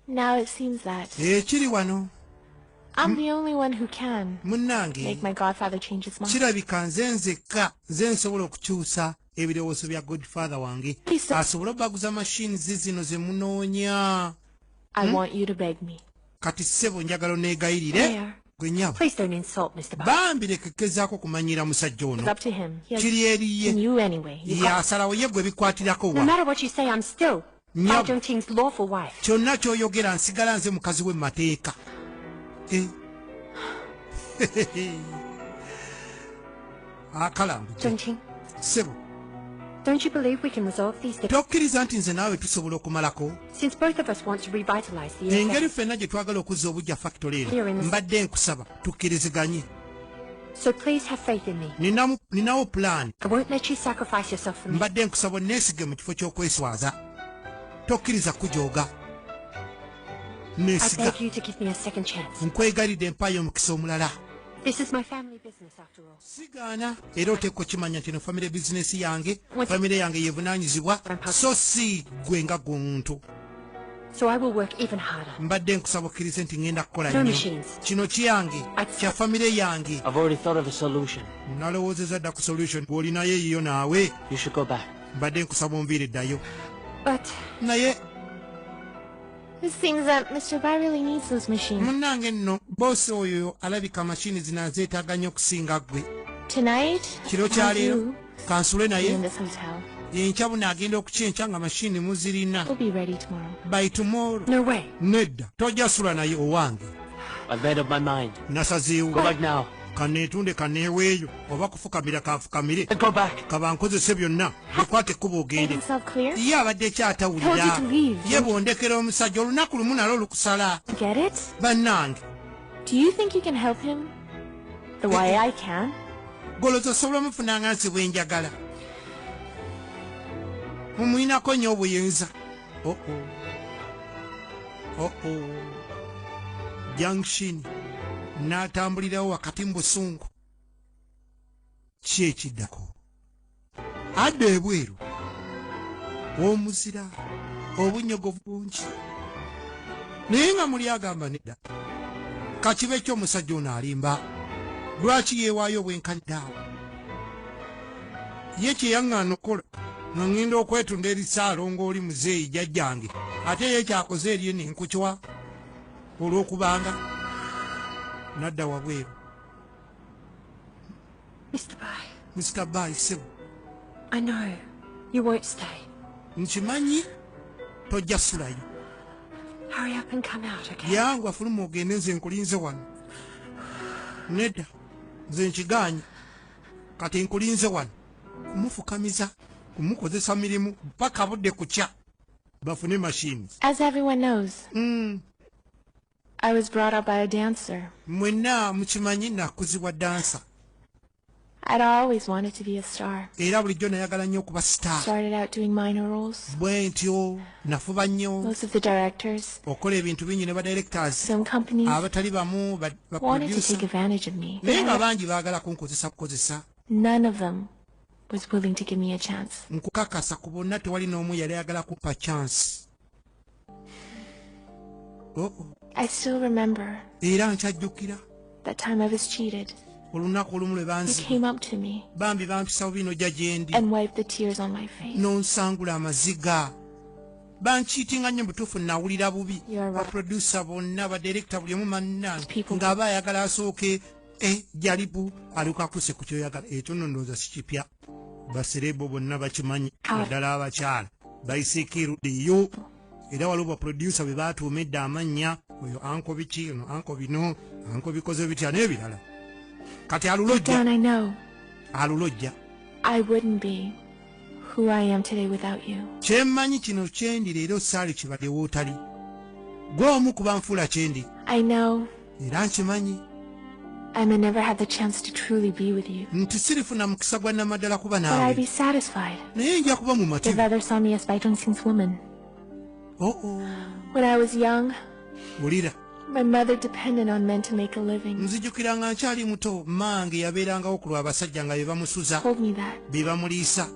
Now it seems that ekiri eh, wano I'm the only one who can make my godfather change his mind. kirabika nze nzekka nze nsobola okukyusa ebirowoozo bya godfather wange asobole obaguza mashini zizino ze munoonya hmm? kati ssebo njagala oneegayirire gwe nyabo bambi lekekezaako okumanyira musajja ono kiri eriye yasalawo ye gwe bikwatirako wa kyonna kyoyogera nsigala nze mukazi we mumateeka eh. akalambusebo tokkiriza nti nze naawe tusobola okumalako engeri ffenna gye twagala okuzza obujja fakitole eno mbadde nkusaba tukkiriziganye So please have faith in me. Ninamu, ninawo plan. I won't let you sacrifice yourself for me. Mbadde nkusaba onneesige mu kifo ky'okweswaza. Tokkiriza kujooga. Neesiga. I beg you to give me a second chance. Nkwegalidde mpaayo omukisa omulala. This is my family business after all. Sigaana era oteekwa okimanya nti no family business yange, family yange yevunaanyizibwa so si gwe nga guntu. So I will work even harder. Mbadde nkusaba okkirize nti ngenda kukola nnyo. Kino kiyange, kya famire yange. I've already thought of a solution. Nalowoozezza dda ku solution bw'olinayo eyiyo naawe. You should go back. Mbadde nkusaba onviire ddayo. But naye It seems that Mr. Bai really needs those machines. Munnange nno boosi oyo alabika mashini zino azeetaaga nnyo okusinga ggwe. Tonight, kiro kya leero kansule naye enkya buno agenda okukyenkya nga mashini muzirina by tomorrow no way nedda tojja sula naye owange nasazeewo kaneetunde kaneeweeyo oba kufukamira kanfukamire kabankozese byonna ekwata ekkuba ogende ye abadde ekyatawulira ye bwondekera omusajja olunaku lumu nalo olukusala bannange The way I can. Goloza osobola mufuna nga nsi bwenjagala. Mumuyinako nyo obuyinza. Oh oh. Oh oh. Junction. Natambulirawo wakati mu busungu. Kyekiddako. adda ebweru omuzira obunyogovu bungi naye nga muli agamba nedda kakibe kyo omusajja ono alimba lwaki yeewaayo obwenkanidaawo ye kyeyaŋŋaana okukola nga ŋŋenda okwetunda eri saalonga oli muzeeyi jajjange ate ye kyakoze erye nenkukiwa olw'okubanga nadda wabweru Mr. Bai. Mr. Bai, sebo. I know. You won't stay. Nkimanyi tojja sulayo. Hurry up and come out, okay? Yangu afulumu ogende nze nkulinze wano. Neda, nze nkigaanyi. Kati nkulinze wano. Kumufukamiza, kumukozesa mirimu, mpaka budde kukya. Bafune machines. As everyone knows. Mm. I was brought up by a dancer. Mwenna mukimanyi nakuzibwa dancer. I'd always wanted to be a star. Era bulijjo nayagala nnyo okuba star. Started out doing minor roles. Bwe ntyo nafuba nnyo. Most of the directors. Okola ebintu bingi ne ba directors. Some companies. Abatali bamu ba producer. Wanted to take advantage of me. Naye nga bangi baagala kunkozesa kukozesa. None of them was willing to give me a chance. Nkukakasa ku bonna tewali n'omu yali ayagala kupa chance. oh -oh. I still remember era nkyajjukira the time I was cheated olunaku olumu lwe banzibambi bampisa bubi nojja gyendi nonsangula amaziga bankiitinga nnyo mubutuufu nawulira bubi baprodusa bonna badirekita buli omu manna ng'aba ayagala asooke eh, jalibu alikuakuse ku kyoyagala ekyo nondooza sikipya basereebo bonna bakimanyi ah. naddala abakyala baisikiru diyo era waliwo baproducer be baatuuma edda amannya oyo anko biki no anko bino anko bikoze bitya n'ebirala kati alulojja alulojja kyemmanyi kino kyendi leero saali kibadde wootali gwe omu kuba nfuula kyendi era nkimanyi I may never have the chance to truly be with you. Nti sirifuna mukisa gwa namadala kuba nawe. But I'd be satisfied. Naye nja kuba mumativu. If others saw me as Baitonsin's woman. Oh oh. When I was young. Ulira. My mother depended on men to make a living. Nzijukira nga nkyali muto mange yabeerangawo ku lw'abasajja nga bebamusuza. Told me that. Bebamuliisa.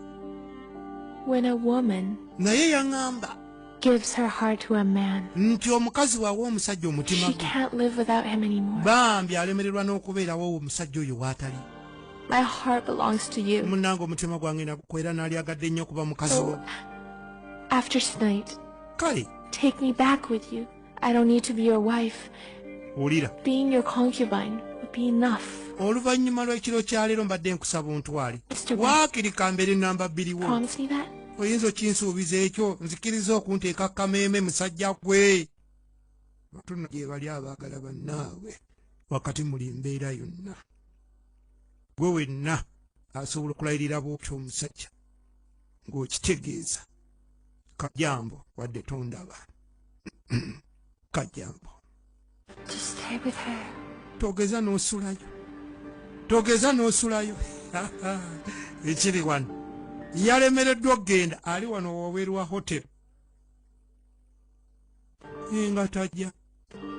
When a woman. Naye yangamba. gives her heart to a man. Nti omukazi wawa omusajja omutima gwe. She can't live without him anymore. Bambi alemererwa n'okubeerawo owo omusajja oyo waatali. My heart belongs to you. Munnange omutima gwange nagukwera naalyagadde nnyo okuba mukazi wo. After tonight. Kale. Take me back with you. I don't need to be your wife. Wulira. Being your concubine would be enough. Oluvannyuma lw'ekiro kya leero mbadde nkusaba ontwale. Waakiri kambeere namba bbiri wo. Promise me that. Oyinza okinsuubiza ekyo nzikiriza okunteeka kameeme musajja gwe. Tunno gye bali abaagala bannaabwe wakati muli mbeera yonna. Gwe wenna asobola okulayirira bw'otyo omusajja ng'okitegeeza. kajambo wadde tondaba kajambo togeza n'osulayo togeza n'osulayo ekiri wano yalemereddwa okugenda ali wano wabweru wa hotel nga tajja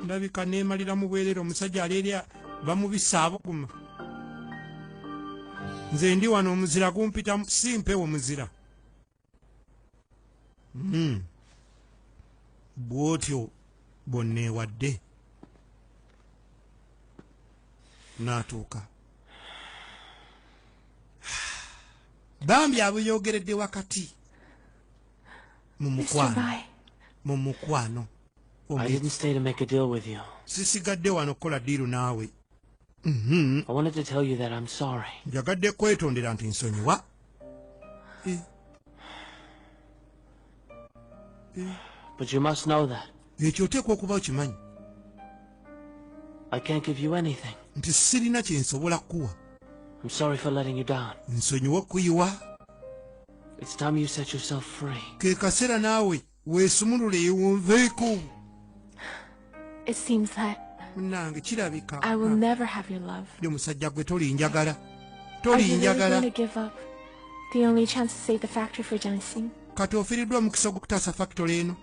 ndabika nemalira mu bwerere omusajja aleerya bamubisa abuguma nze ndi wano omuzira gumpitamu simpewo muzira hmm. bwotyo bwonneewadde n'atuuka bambi abuyogeredde wakati mu mukwano mu mukwano sisigadde wano kukola diiru naawe Mm-hmm. I wanted to tell you that I'm sorry. Njagadde kwetondera nti nsonyiwa. Eh. Eh. But you must know that. Ekyo oteekwa okuba okimanyi. I can't give you anything. Nti sirina kye nsobola kukuwa. I'm sorry for letting you down. Nsonyiwa okuyiwa. It's time you set yourself free. Ke kaseera naawe weesumululeyo wonveeko munange kirabika ndi omusajja gwe tolinjagala tolinjagala kati ofiriddwa omukisa ogwokutaasa fakitole eno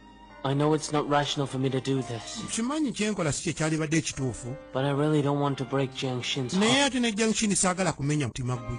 I know it's not rational for me to do this. Kimanyi kyenkola si kyekyalibadde ekituufu. But I really don't want to break Jiang Xin's heart. Naye ate ne Jiang Xin saagala kumenya mutima gwe.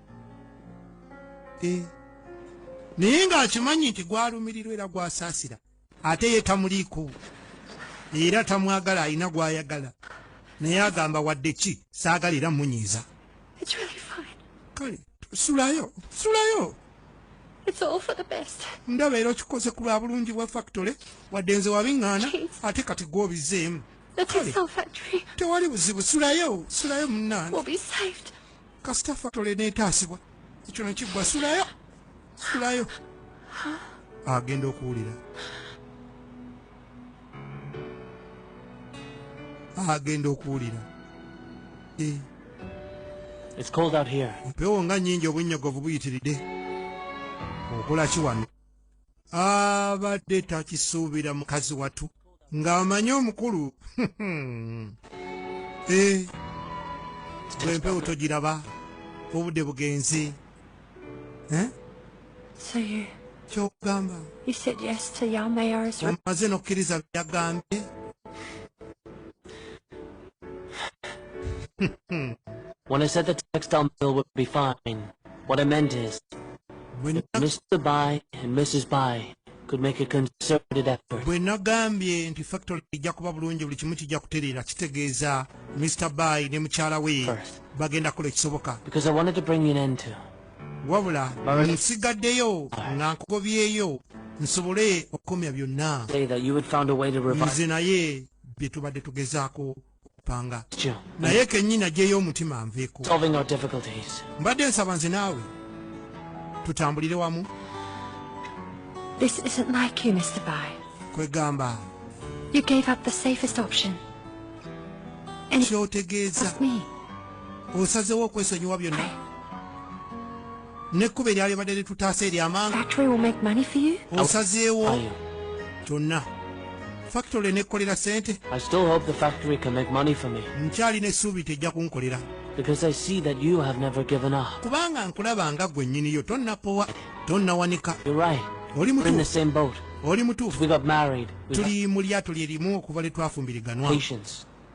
eh. naye ng'akimanyi nti gwalumirirwa era gwasaasira ate ye tamuliiko era tamwagala alina gwayagala naye agamba wadde ki saagala era munyiiza kale sulayo sulayo ndaba era okikoze ku lwa bulungi bwa factory wadde nze wabiŋŋaana ate kati gw'obizeemu tewali buzibu sulayo sulayo munnange kasita fatole netaasibwa ekyo nekiggwa sulayo sulayo agenda okuwulira agenda okuwulira eh. mpewo nga nyingi obunnyogovu buyitiridde okolaki wano abadde takisuubira mukazi watu ng'amanyi omukulu eh, gwempewo togiraba obudde bugenzi eh? kyokugamba omaze n'okkiriza byeyagambye When I said the textile mill would be fine, What I meant is, if Mr. Bai and Mrs. Bai could make a concerted effort. Bwe nagambye nti factory ijja kuba bulungi buli kimu kijja kutereera kitegeeza Mr. Bai ne mukyala we bagenda kola ekisoboka. Because I wanted to bring you an end to. Wabula nsigaddeyo nga nkugobyeyo nsobole okukomya byonna. Nze naye bye tubadde tugezaako panga naye kenyini ajeyo omutima anveeko mbadde nsaba nze naawe tutambulire wamu kwegamba kyotegeeza osazewo okwesonyiwa byonna n'ekkubo eryalibadde litutaasa ery'amaanga osazeewo kyonna fakitole n'ekkolera ssente nkyalina essuubi tejja kunkolera kubanga nkulaba nga gwe nnyiniyo tonnapowa tonnawanika oli mutuufu tuli mu lyato lye limu okuva lye twafumbiriganwa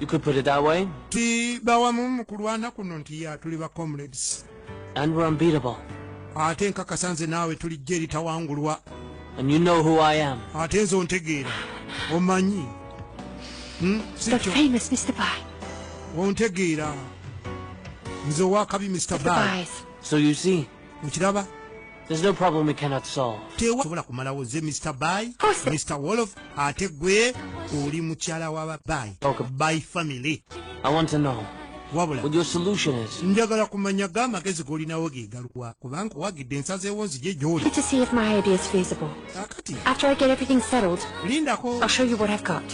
You could put it that way. Ti bawamu mu kulwana kuno nti ya tuli ba comrades. And we're unbeatable. Ate nkakasa nze naawe tuli jje eritawangulwa. And you know who I am. Ate nze ontegeera. Omanyi. Hmm? The famous Mr. Bai. Ontegeera. Nze owakabi Mr. Bai. So you see. Mukiraba? There's no problem we cannot solve. Tewa sobola kumalawo ze Mr. Bai, Mr. Wolof, ate gwe oli mukyala wa Bai. Okay. Bai family. I want to know. Wabula. What your solution is. Njagala kumanya ga magezi goli na wagi galuwa. Kubanga wagi densa ze wonzi je joli. Need to see if my idea is feasible. Akati. After I get everything settled. Linda ko. I'll show you what I've got.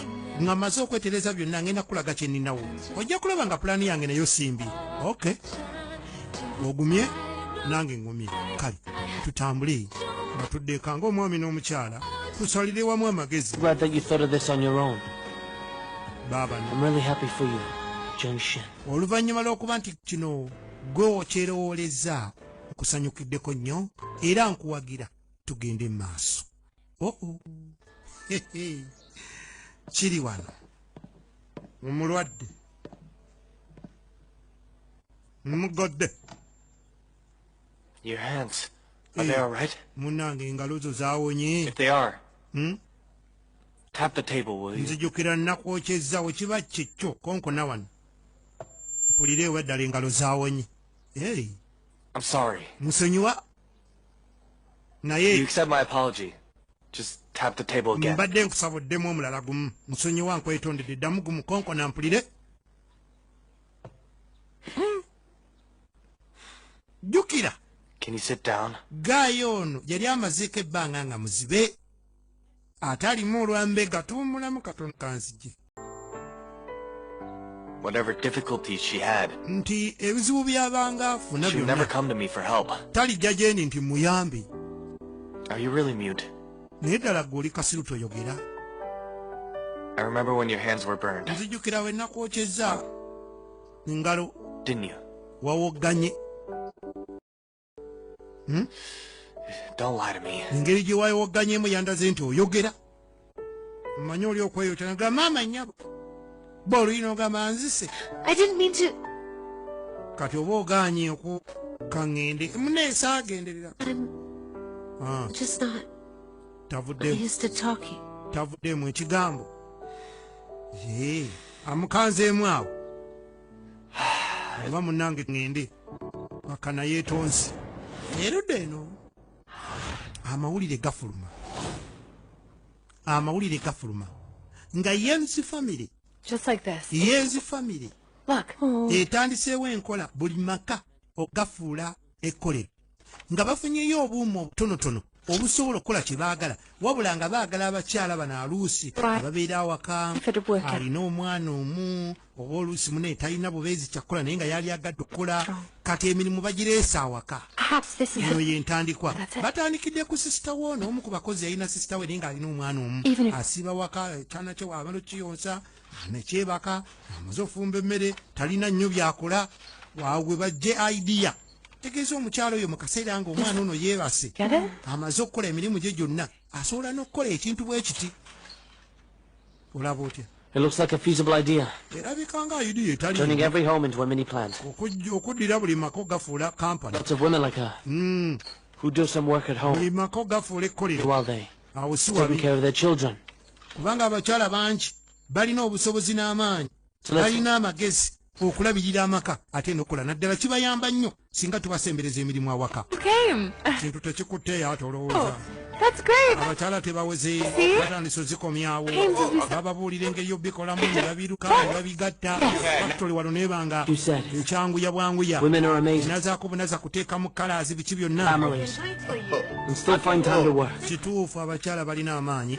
Nga maze okweteleza byonna ngenda kulaga kye ninawo. Ojja kulaba nga plan yange nayo simbi. Okay. ogumye nange ngumye kale tutambule batuddeeka ngaomwami n'omukyala tusalire wamu amagezi oluvannyuma lw'okuba nti kino gwe okyerowoolezzaako nkusanyukiddeko nnyo era nkuwagira tugende mu maaso oh -oh. kiri wano omulwadde mugodde your hands are they eh, all right munange engalo zo zawonye if they are hmm? tap the table will you nzijukira nakwokyezzawo kiba kikyo konkona wano mpulire eweddala engalo zawonye hey. i'm sorry musonyiwa naye mbadde nkusaba oddemu omulala gumu musonyiwa nkwetondedde ddamu gumu konkona mpulire hmm. jjukira gaayo ono yali amazeeko ebbanga nga muzibe ate alimu olwambega tuwumulamu katono kanzijira whatever difficulties she had. Nti ebizibu byabanga afuna byonna. never come to me for help. Talijja gyendi nti muyambi. Are you really mute? Naye ddala ggwe oli kasiru toyogera. I remember when your hands were burned. Nzijukira we nakwokyezza ngalo. Didn't you? Wawogganye. Hmm? engeri gye wayowogganyemu yandaze nti oyogera mmanyi oli okweyotana ga maama nyabo ba oluyina ogamba nzise kati oba oganye oku kaŋŋende muneesa agenderera ah. tavuddemu ekigambo amukanzeemu awo oba munange ngende makana yetonzi erudde eno amawulire gafuluma amawulire gafuluma nga yensi famiry yensi famiry etandiseewo enkola buli maka ogafuula ekkolero nga bafunyeyo obuuma obutonotono obusobola okukola kye baagala wabula nga baagala abakyala bano aluusi ababeera awaka alina omwana omu oba oluusi mune talina bubeezi kyakukola naye nga yali agadde okukola kati emirimu bagireesa awaka eno ye ntandikwa batandikidde ku sisita wo noomu ku bakozi yalina sisita we naye nga alina omwana omu asiiba waka kyana kye wabala okiyonsa nekyebaka amaze ofumba emmere talina nnyo byakola wawe bajje idea tegeeza omukyalo oyo mu kaseera nga omwana ono yeebase amaze okukola emirimu gye gyonna asobola n'okukola ekintu bwe kiti olaba otya It looks like a feasible idea. Turning every home into a mini plant. Lots of women like her mm. who do some work at home while they taking care of their children. balina amagezi okulabirira amaka ate nokola naddala kibayamba nnyo singa tubasembereza emirimu awaka kintu tekikutteeyo ate olowooza oh, abakyala tebaweze batandisa ozikomyawo bababuulira engeri yobikolamu nebabiruka nebabigatta bakitole wano nebanga ekyanguya bwanguya nazakubunaza kuteekamu kalaazi biki byonna kituufu abakyala balina amaanyi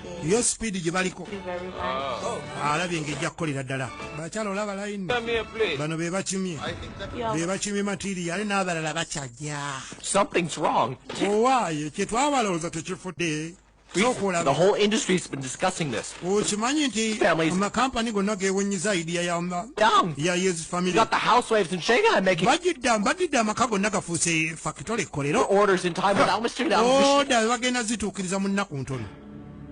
yo speed gye baliko ah. alabye nga ejja kukolera ddala bakyala olaba layini bano be bakimye be bakimye matiriya ale n'abalala bakyajja owaayo kye twabalowooza tekifudde okimanyi nti amakampani gonna gewonyiza idiya yayezifamilbagidda mbagidde amaka gonna gafuuse fakitole ekkolero oda bagenda zituukiriza mu nnaku ntono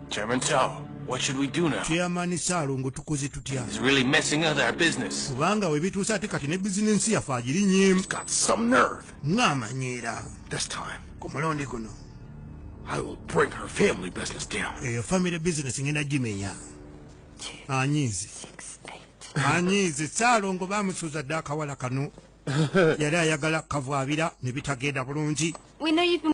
Chairman Tao, what should we do now? Chairman Salongo tukoze tutya? He's really messing up our business. Kubanga we bituusa ate kati ne business yaffe agirinye. He's got some nerve. Ng'amanyiira. This time. Ku mulundi guno. I will bring her family business down. Eyo family business ngenda gimenya. Anyiizi. Anyiizi Salongo bamusuuza dda akawala kano. Yali ayagala kavwabira ne bitagenda bulungi. We know you've been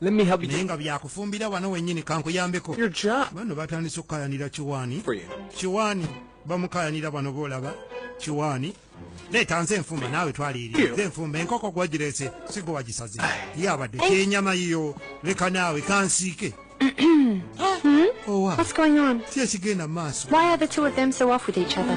Let me help you. Naye nga byakufumbira wano wenyini kankuyambeko. Your job. Bano batandise okukayanira kiwaani. Kiwaani bamukayanira bano boolaba kiwaani. Leeta nze enfumba naawe twaliiri. Nze enfumba enkoko gwagirese sigo wagisaze. Ye abadde kyenyama yiyo leka naawe kansiike. Hmm? Oh, wow. What's going on? Why are the two of them so off with each other?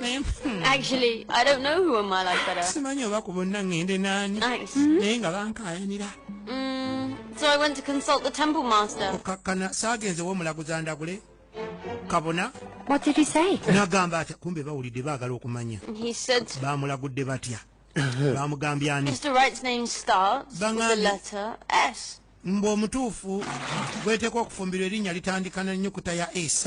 Hmm. Actually, I don't know who in my life better. Simanyi oba ku bonna ngende nani. Nice. Hmm. Naye nga bankaayanira. Mm, so I went to consult the temple master. Okakkana saagenze w'omulaguza ndagule. Kabona. What did he say? Nagamba atya kumbe bawulidde baagala okumanya. He said. Baamulagudde batya. Baamugambye ani. Mr. Wright's name starts with the letter S. Mbu omutuufu gweteekwa okufumbirwa erinnya litandikana ennyukuta ya S.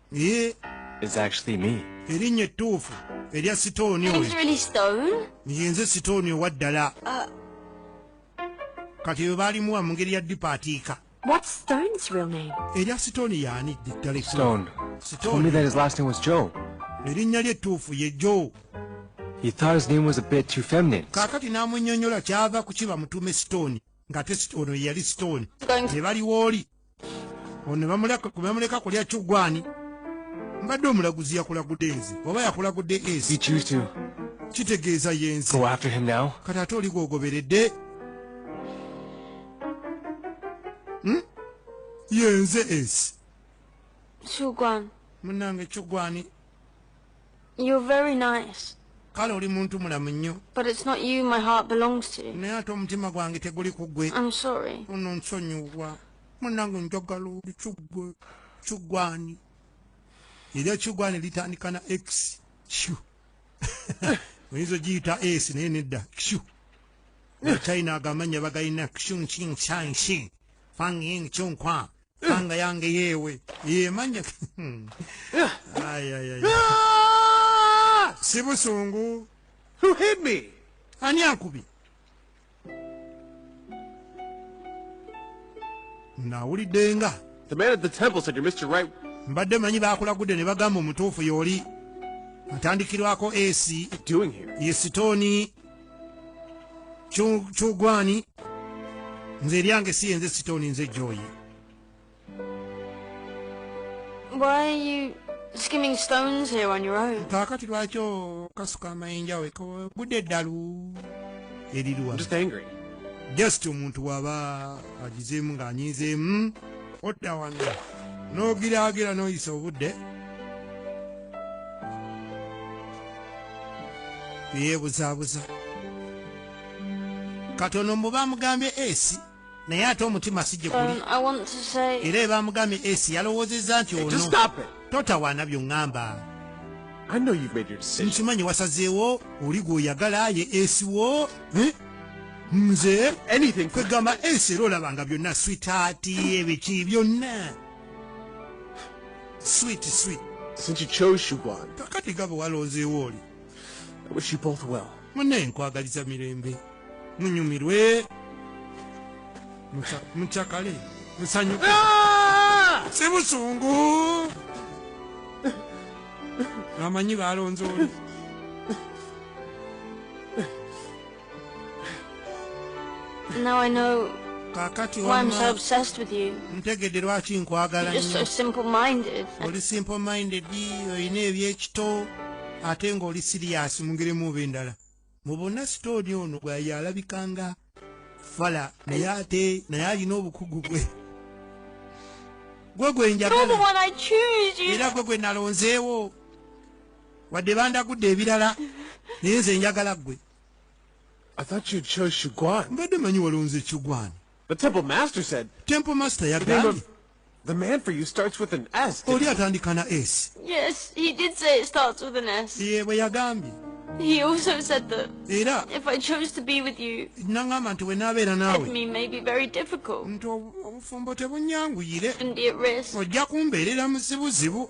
Ye. It's actually me. Erinnya ettuufu erya Sitooni oyo. It's really Stone. Ye nze Sitooni owa ddala. Uh. Kati bwe baalimu wa mu ngeri ya dipatiika. What's Stone's real name? Erya Sitooni yaani ddala. Stone. Stone. Told me that his last name was Joe. Erinnya lye ettuufu ye Joe. He thought his name was a bit too feminine. Kakati namunyonyola kyava kuchiba mutume stone. Ngate stone yali stone. Ne bali woli. ono bamuleka kulya kyugwani mbadde omulaguzi yakulagude nze oba yakulagude esi kitegeeza yenze kati ate oli gwogoberedde hmm? yenze esi munange kyugwani You're very nice. kale oli muntu mulamu nnyo naye ate omutima gwange teguli ku gwe ono nsonyiwa munange njagala oli kigwe kigwani era ekigwani litandika na x q oyinza ogiyita s naye nedda q china agamanya bagalina q nkinsansi fanging kinkwa Panga yange yewe. Ye manya. Ay ay ay. Ah! Sibusungu. Who hit me? Ani akubi? Nawulidde nga. The man at the temple said you're Mr. Right. Mbadde manyi bakulagudde ne bagamba omutuufu y'oli. Atandikirwako AC. Doing here? Ye sitooni kyogwani nze eryange si yenze sitooni nze joyi kakati lwaki okasuka amayinja we budde eddalu eriruwa just omuntu waba agizeemu ng'anyiizeemu odda wange n'ogiraagira n'oyisa obudde yebuzabuza katono mubamugambye esi naye ate omutima sijje kuli um, era ebamugambye esi yalowoozezza nti ono totawaana byongamba nkimanyi wasazeewo oli gweoyagala ye esi wo eh? nze kwegamba esi era olabanga byonna switaati ebiki byonna sweet sweet since you chose Siobhan kakati gabo walonzeewo oli I wish you both well mune nkwagaliza mirembe munyumirwe mucakale musanyuke ah! si busungu amanyi balonze oli Now I know kakati why I'm so obsessed with you. ntegedde lwaki nkwagala You're so simple minded. oli simple minded olina ebyekito ate ng'oli siriyasi mu ngeri muba endala mu bonna sitooni ono bwaye alabika nga fala naye ate naye alina obukugu bwe gwe gwe njagala era gwe gwe nalonzeewo wadde bandagudde ebirala naye nze njagala gwe I thought you chose Shugwan. Mbadde manyi walonze Shugwan. The temple master said. Temple master yagambye. The man for you starts with an S. Oli atandika na S. Yes, he did say it starts with an S. Ye bwe yagambye. He also said that Era if I chose to be with you, nangamba nti wenaabeera naawe me may be very difficult. Nti obufumbo tebunyanguyire. And be at risk. Ojja kumbeerera mu zibuzibu.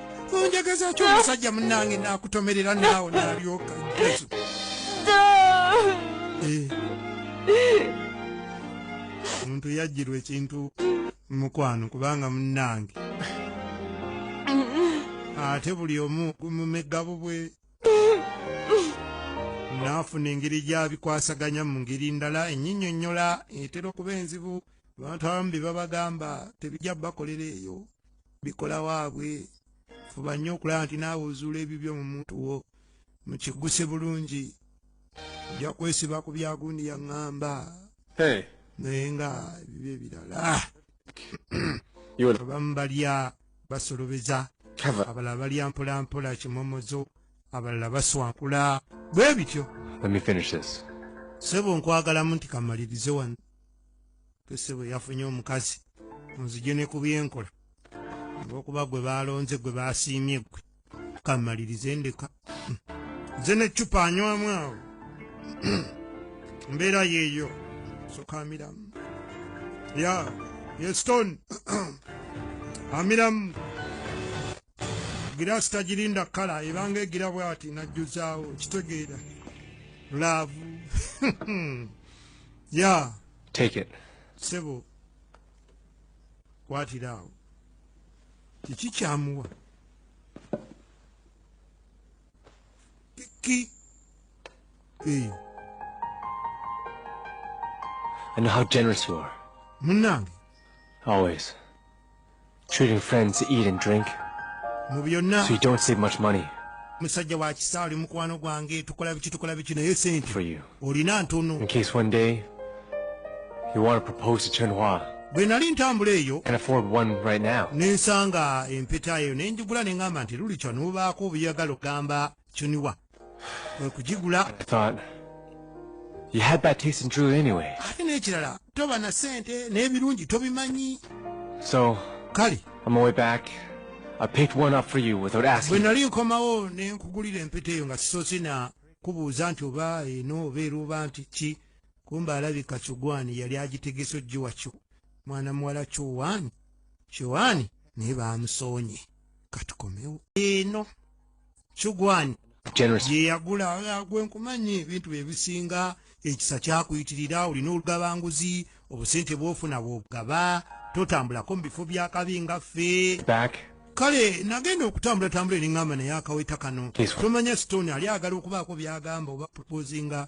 onjagazaki omusajja munange nakutomerera naawo nalyoka yesu eh. omuntu yajjirwa ekintu mukwano kubanga munange ate buli omu mumegabo bwe naafuna engeri gyabikwasaganya mu ngeri ndala enyinyonyola etera okuba enzibu abantu abamu bye babagamba tebijja bakolera eyo bikola waabwe fuba nnyo okulaba nti naawe ozuula ebibyo mu muntu wo mukigguse bulungi ojja kwesiba ku byagundi yaŋŋamba naye nga ebibyo ebirala abamu balya basolobeza abalala balya mpolampola kimomozo abalala baswankula bwe bityo sebo nkwagalamu nti kamalirize wano kese bwe yafunye omukazi onzije ne ku byenkola olwokuba gwe baalonze gwe baasiimye gwe kamalirize ndeka nze neccupa anywamu awo mbeera yeeyo sokamiramu ya yestone amiramu giraasi tagirinda kala ebanga egira bwati najjuzaawo kitegeera laavu ya yeah. take it sebo kwatira awo kiki kyamuwa kiki hey. I know how generous you are. Munange. Always. Treating friends to eat and drink. Mu byonna. So you don't save much money. Musajja wa kisa oli mukwano gwange tukola biki tukola biki naye sente. For you. Olina ntono. In case one day you want to propose to Chen Hua. Bwe nali ntambula eyo. Can afford one right now. Nensanga empeta eyo ne njigula ne ngamba nti luli kya nubaako obuyagalo gamba Chen Hua. kwekugigula ate n'ekirala toba na sente n'ebirungi tobimanyi kale bwe nali nkomawo ne nkugulira empeta eyo nga sisoose na kubuuza nti oba eno obeera oba nti ki kumba alabika kyogwani yali agitegese ojji wakyo mwana muwala kyowani kyowani naye bamusoonye katukomewo eno kigwani gyeyagula ah, gwenkumanyi ebintu byebisinga ekisa kyakuyitirira olina olugabanguzi obusente bwofuna bwobugaba totambulako mu bifo byakabi nga ffe kale nagenda okutambula tambula eringamba naye akaweta kano tomanya stone ali agala okubaako byagamba oba proposinga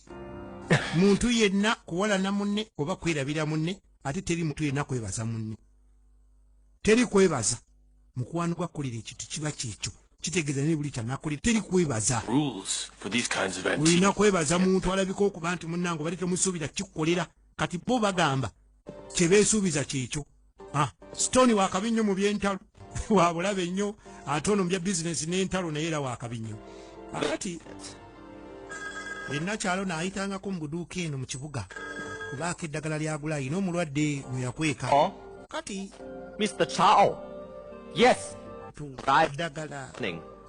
muntu yenna kuwalana munne oba kwerabira munne ate teri muntu yenna kwebaza munne teri kwebaza mukwano gwa kulira ekintu kiba kyekyo kitegeeza naye buli kyanakuli teri kwebaza olina kwebaza muntu alabika okuba nti munnange obadde temusuubira kikukolera kati bo bagamba kyebeesuubiza kyekyo ah, stone wakabi nnyo mu byentalo wabulabe nnyo ate ono mubya bizinesi n'entalo naye era wakabi nnyo akati ennakyalo naayitangako mu buduuka eno mu kibuga kubaako eddagala lyagula ayina omulwadde mwe yakweka oh. kati mr chao yes eddagala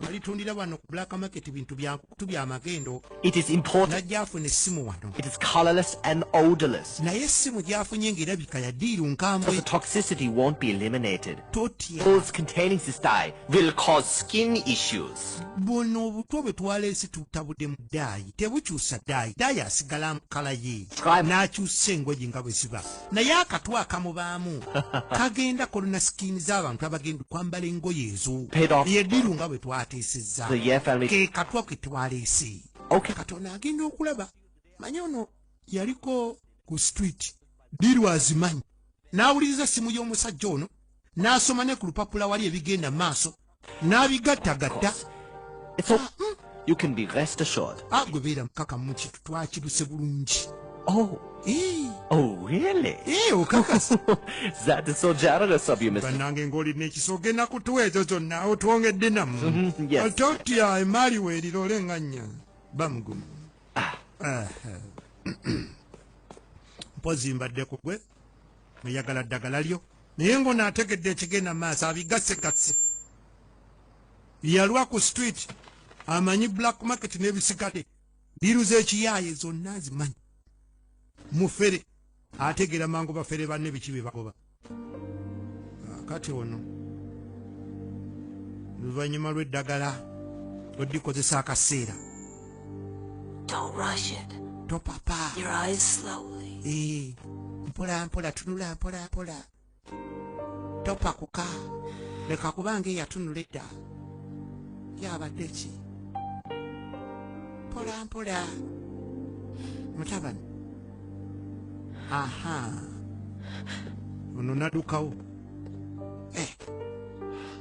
alitundira wano ku black market bintu byanku tubya amagendo it is important najja afuna essimu wano it is colorless and odorless naye essimu gyafunye ng'erabika ya diiru nkambwe the toxicity won't be eliminated totya pills containing cystai will cause skin issues buno obutwa bwe twaleese tutabudde mu daayi tebukyusa daayi daayi asigala mu kala ye n'akyusa engoye nga bwe ziba naye akatu akamubaamu kagenda kolona sikiini z'abantu abagenda okwambala engoye ezo yediru nga bwe twateesezza ke katwa ke twaleese katonda agenda okulaba manya ono yaliko ku street diru azimanyi n'awuliriza essimu y'omusajja ono n'asoma ne ku lupapula wali ebigenda mu maaso n'abigattagatta So, mm, you can be rest assured. agwe beera mukakamu kitu twakiruse bulungi Oh, Eh, oh, really? eh, okakasa that is so generous of you, Mr. bannange ng'olina ekisoga ennaku tuwa ezo zonna otwongedde namu Mhm, yes. altotya emaali weerira olengannya bamugumu Aha. mpozi mbadde ku gwe oyagala ddagala lyo naye ngono ategedde ekigenda maaso abigasegatse yalwa ku street amanyi black market nebisigale diru zekiyaaye zonna azimanyi mufere ategera mangu bafere banne biki bebagoba ah, kati ono luvannyuma lw'eddagala lwedikozesa akaseera Don't rush it. Topapa. Your eyes slowly. Eh, mpola mpola tunula mpola mpola. Topakuka. Leka kuba nga eyatunula edda. Yabadde ki? Mpola mpola. Mutabani. Aha. Ono nadukawo.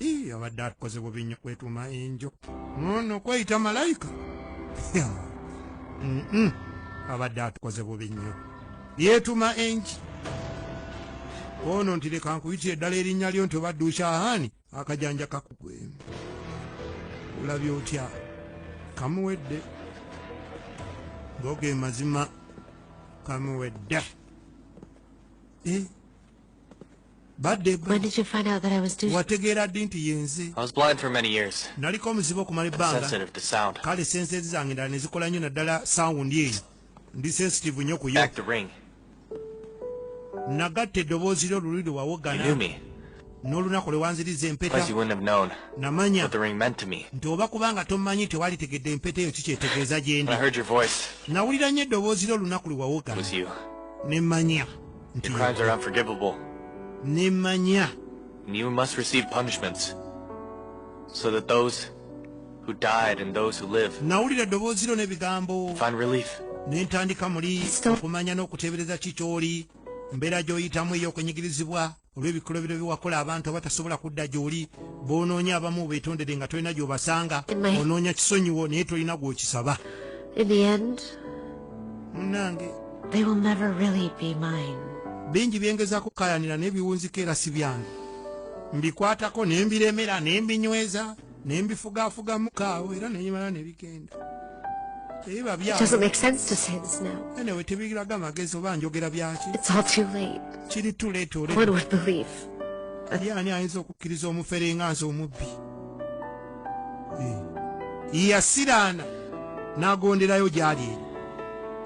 Ii, abadde akoze bubi nnyo kwetuuma enjo nono kweyita malayika abadde atukoze bubi nnyo yeetuma enki ono nti leka nkuyitire eddala erinnya lyo nti obadde ushahani akajanja kakugwe olabye otya kamuwedde goge mazima kamuwedde eh? wategeera ddi nti yenze naliko omuzibu okumala ebbanga kale senseezi zange ndala ne zikola nnyo naddala sawundi eyo ndi sensitive nnyo kuyo nagatta eddoboozi lyo luli lwe wawogana n'olunaku lwe wanziriza empeta namanya nti oba kubanga tommanyi tewalitegedde empeta eyo kikyetegeeza gyendi nawulira nnyo eddoboozi lyo olunaku lwe wawogana ne mmanya nti nemanya you must receive punishments so that those who died and those who live find relief nentandika muli okumanya n'okuteebereza ki ky'oli mbeera gy'oyitamu ey'okunyigirizibwa olw'ebikolobero byewakola abantu abatasobola kudda gy'oli b'onoonya abamu beetondere nga tolina gy'obasanga onoonya kisonyiwo naye tolina gw'okisaba munange they will never really be mine bingi byengezako kayanira naye biwunzika era si byange mbikwatako ne mbiremera ne mbinyweza ne mbifugafugamu kaawo era nenyimala ne bigenda tebiba byaenewe tebiraga amagezi oba njogera byaki kiri tuleeta olani ayinza okukkiriza omufere nga nze omubbi yasiraana n'agonderayo gyali eri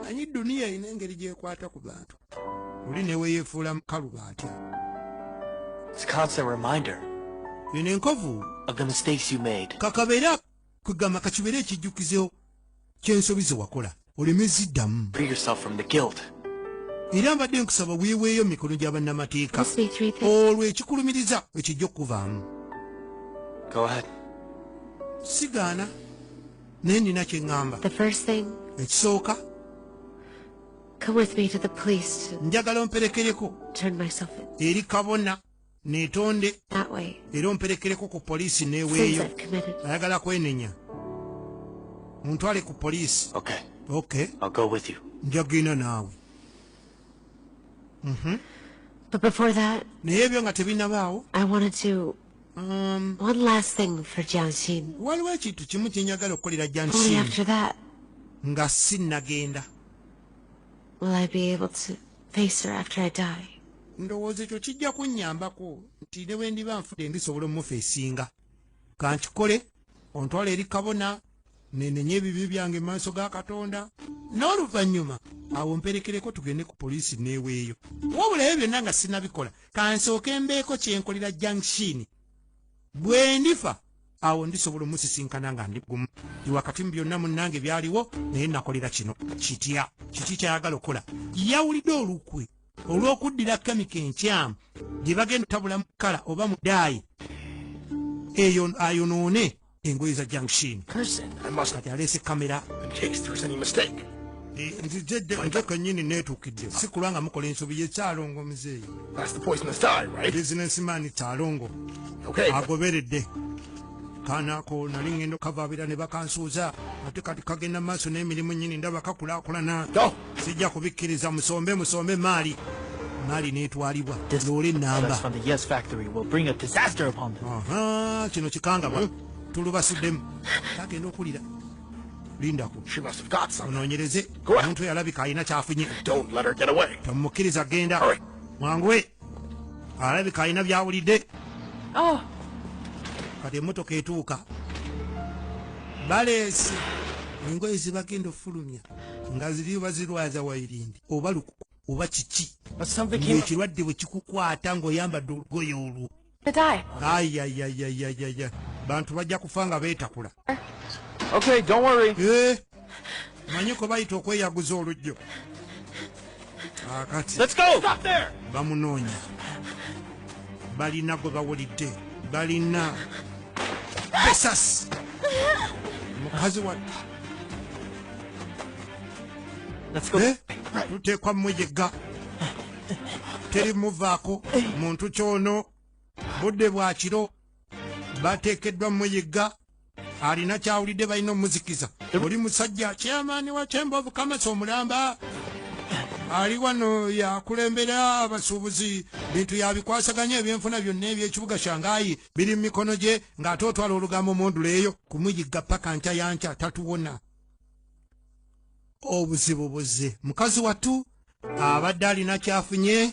manyi duniya erina engeri gyekwata ku bantu oli neweyefuula mukalu bantu bino enkovu kakabeera kugamba kakibeere ekijjukizo kyensobi zewakola oleme ziddamu era mbadde nkusaba weeweeyo mu mikono gya bannamateeka olwo ekikulumiriza ekijja okukuvaamu sigaana naye nina kye ŋŋamba ekisooka njagala omperekereko eri kabona netonde era omperekereko ku poliisi neweeyo ayagala kwenenya muntwale ku poliisi njagenda naawe mhm. naye ebyo nga tebinabaawo um, waliwo ekintu kimu kyenyagala okukolera jansin nga sinnagenda face her after I die. Ndowooza ekyo kijja kunnyambako nti ne bwe ndiba nfude ndisobola omufeesinga. Ka nkikole ontwala eri kabona nenenye ebibi byange mu maaso ga Katonda n'oluvannyuma awo mperekereko tugende ku poliisi neeweeyo. Wabula ebyo byonna nga sinabikola ka nsooke mbeeko kye nkolera Junction. Bwe ndifa awo ndisobola omusisinkana nga ndi gumu ndi wakati mu byonna munnange byaliwo naye nakolera kino kitya kiki kyayagala okukola yawulidde olukwe olw'okuddira kemika enkyamu gye bagenda otabula mu kala oba mu daayi eyo ayonoone engoye za junction kati aleese kamera nzize dde nze kenyini neetuukidde si kulwa nga mukola ensobi ye kyalongo muzeeyi bizinesimani kyalongo agoberedde kanako nali ngendo kavaabira ne bakansuuza ate kati kagenda mu maaso n'emirimu nyini ndaba kakulakulana sijja kubikkiriza musombe musombe emaali mali netwalibwa loole namba kino kikangabwa hmm? tulubasuddemu kagenda okulira lindako onoonyereze omuntu yalabika alina kyafunye tomukkiriza genda mwanguwe alabika alina byawulidde oh. kati emotoka etuuka baleese engoye zibagenda ofulumya nga ziriyo bazirwaza wairindi oba lukuku oba kiki ekirwadde bwe kikukwata ng'oyambadde olugoye olwo ayayayayayaya bantu bajja kufa nga beetakula eh, manyi kwe bayita okweyaguza olujjo akati bamunoonya balina gwe bawulidde balina besasi mukazi wa eh, tuteekwa mmwejegga teri muvaako muntu kyono budde bwa kiro bateekeddwa muyigga alina kyawulidde balina omuzikiza oli musajja kyamaani wa kyemba obukamasi omulamba ali wano yakulembera abasuubuzi bintu yabikwasaganya ebyenfuna byonna ebyekibuga shangayi biri mu mikono gye ng'ate otwala olugambo munduleeyo kumuyigga paka nkya yankya tatuwona obuzibu buzze mukazi wattu abadde alina kyafunye